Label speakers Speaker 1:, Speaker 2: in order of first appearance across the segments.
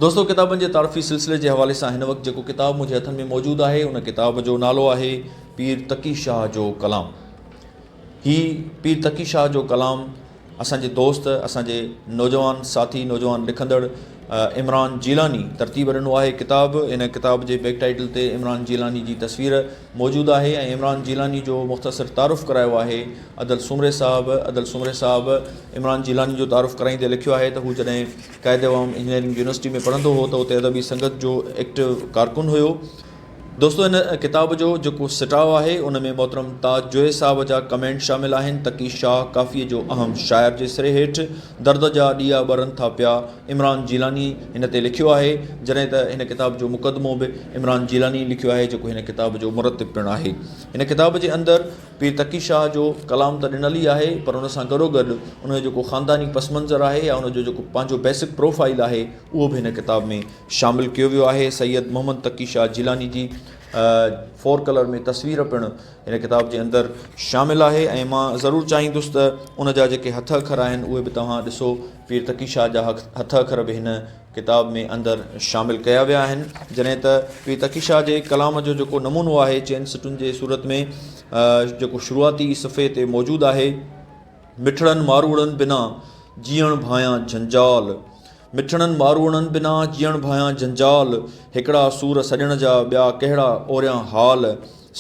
Speaker 1: دوستو ڪتابن جي تعارفي سلسلي جي حوالي سان هن وقت جيڪو ڪتاب منهنجي هٿن ۾ موجود آهي ان ڪتاب جو نالو آهي پير تقي شاهه جو ڪلام هي پير تقي شاهه جو ڪلام اسان جي دوست اسان جي نوجوان ساٿي نوجوان لکندڙ عمران جيلاني ترتيب ڏنو آهي ڪتاب ان ڪتاب جي بيڪ ٽائيٽل تي عمران جيلاني جي تصوير موجود آهي ۽ عمران جيلاني جو مختصر تعارف ڪرايو آهي عدل سومري صاحب عدل سومري صاحب عمران جيلاني جو تعارف ڪرائيندي لکيو آهي ته هو جڏهن قائد عوام انجنيئرنگ يونيورسٽي ۾ پڙهندو هو ته اتي ادبي سنگت جو ايڪٽو ڪارڪن هيو. دوستو هن ڪتاب جو جيڪو سٽاء آهي ان ۾ محترم تاج جويي صاحب جا ڪمينٽ شامل آهن، تقي شاهه ڪافيء جو اهم شاعر جي سري هيٺ درد جا ڏيئا ٻرن ٿا پيا عمران جيلاني هن تي لکيو آهي جڏهن ته هن ڪتاب جو مقدمو به عمران جيلاني لکيو آهي جيڪو هن ڪتاب جو مرتب پڻ آهي هن ڪتاب جي اندر پير تقي شاهه جو ڪلام ته ڏنل ئي آهي پر ان سان گڏوگڏ ان جو جيڪو خانداني پس منظر آهي يا ان جو جيڪو پنهنجو بيسڪ پروفائيل آهي اهو به هن ڪتاب ۾ شامل ڪيو ويو آهي سيد محمد تقي شاهه جيلاني جي فور ڪلر ۾ تصوير پڻ هن ڪتاب جي اندر شامل آهي ۽ مان ضرور چاهيندس ته ان جا جيڪي هٿ اکر آهن اهي به توهان ڏسو پير تقي شاهه جا هٿ اکر به هن ڪتاب ۾ اندر شامل ڪيا ويا آهن جڏهن ته پير تقي شاهه جي ڪلام جو جيڪو نمونو آهي چئن سٽن جي صورت ۾ جيڪو شروعاتي صفحي تي موجود آهي مٺڙن ماروئڙن بنا جيئڻ ڀانيان جھنجال مٺڙن ماروئڙن بنا جيئڻ ڀانيان جھنجال هڪڙا سور سڄڻ جا ٻيا ڪهڙا اوريان حال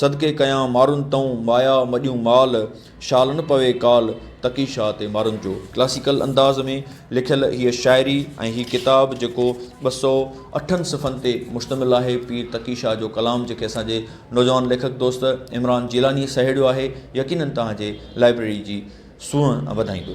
Speaker 1: صدقي ڪيان مارن تئون، مايا مڏيون مال، شال نه پوي ڪال، تقي شاهه تي مارن جو. ڪلاسيڪل انداز ۾ لکيل هيء شاعري ۽ هي ڪتاب جيڪو ٻه سؤ اٺن صفحن تي مشتمل آهي، پير تقي شاهه جو ڪلام جنهن کي اسان جي نوجوان ليکڪ دوست عمران جيلانيء سهيڙيو آهي، يقينن توهان جي لائبريري جي سونهن وڌائيندو.